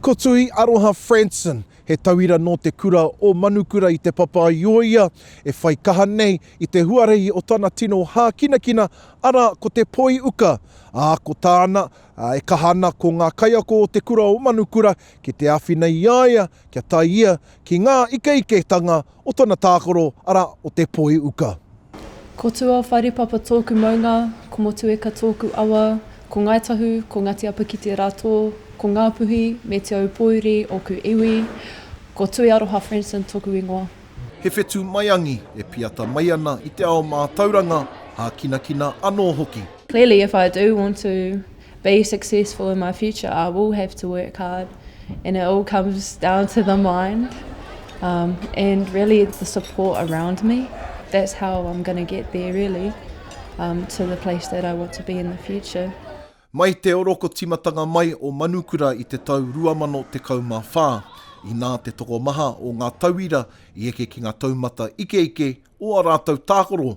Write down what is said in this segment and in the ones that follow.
Ko Tuhi Aroha Franson, he tauira nō te kura o Manukura i Te Papaioia, e whai kaha nei i te huarahi o tana tino hākinakina, arā, ko te poi uka, ā, ko tāna, ā, e kaha ana ko ngā kaiako o te kura o Manukura ki te āwhina i a ia kia tae ia ki ngā ikeiketanga o tana tākaro, arā, o te poi uka. Ko Tuawharepapa tōku maunga, ko Motueka tōku awa, ko Ngāi Tahu, ko Ngāti Apakite rātō, ko Ngāpuhi me Te Aupōuri ōku iwi, ko Tuiaroha Franson tōku ingoa. He whetū maiangi e piata mai ana i te ao mātauranga, hākinakina anō hoki. Clearly if I do want to be successful in my future I will have to work hard and it all comes down to the mind um and really it's the support around me that's how I'm going to get there really um to the place that I want to be in the future. Mai te orokotimatanga mai o Manukura i te tau 2014, inā te tokomaha o ngā tauira i eke ki ngā taumata ikeike o ā rātou tākoro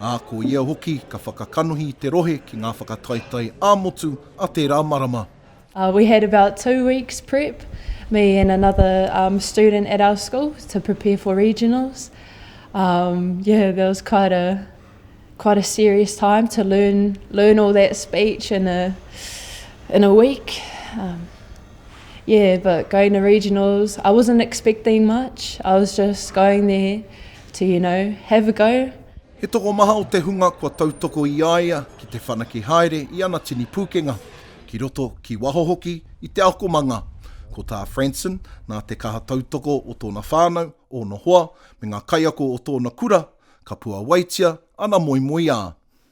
ā, ko ia hoki ka whakakanohi i te rohe ki ngā whakataetae ā-motu a tērā marama. We had about two weeks prep, me and another student at our school, to prepare for regionals. Yeah, that was quite a quite a serious time to learn learn all that speech in a in a week. Yeah, but going to regionals, I wasn't expecting much, I was just going there to you know, have a go. He tokomaha o te hunga kua tautoko i a ia ki te whanake haere i ana tini pūkenga, ki roto, ki waho hoki i te akomanga. Ko tā Franson, nā te kaha tautoko o tōna whānau, ōna hoa, me ngā kaiako o tōna kura, ka puawaitia ana moemoeā.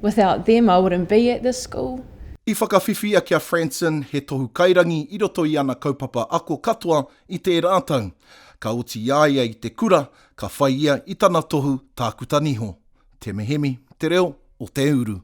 Without them I wouldn't be at this school. I whakawhiwhia ki a Franson he tohu kairangi i roto i ana kaupapa ako katoa i tērā tau. Ka oti i a ia i te kura, ka whai ia i tana tohu tākuta niho. Te Mihemi, Te Reo o Te Uru.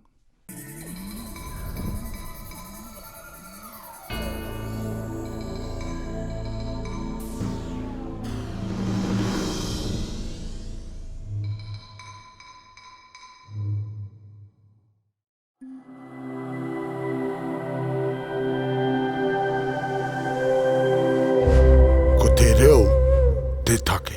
Ko te reo te take.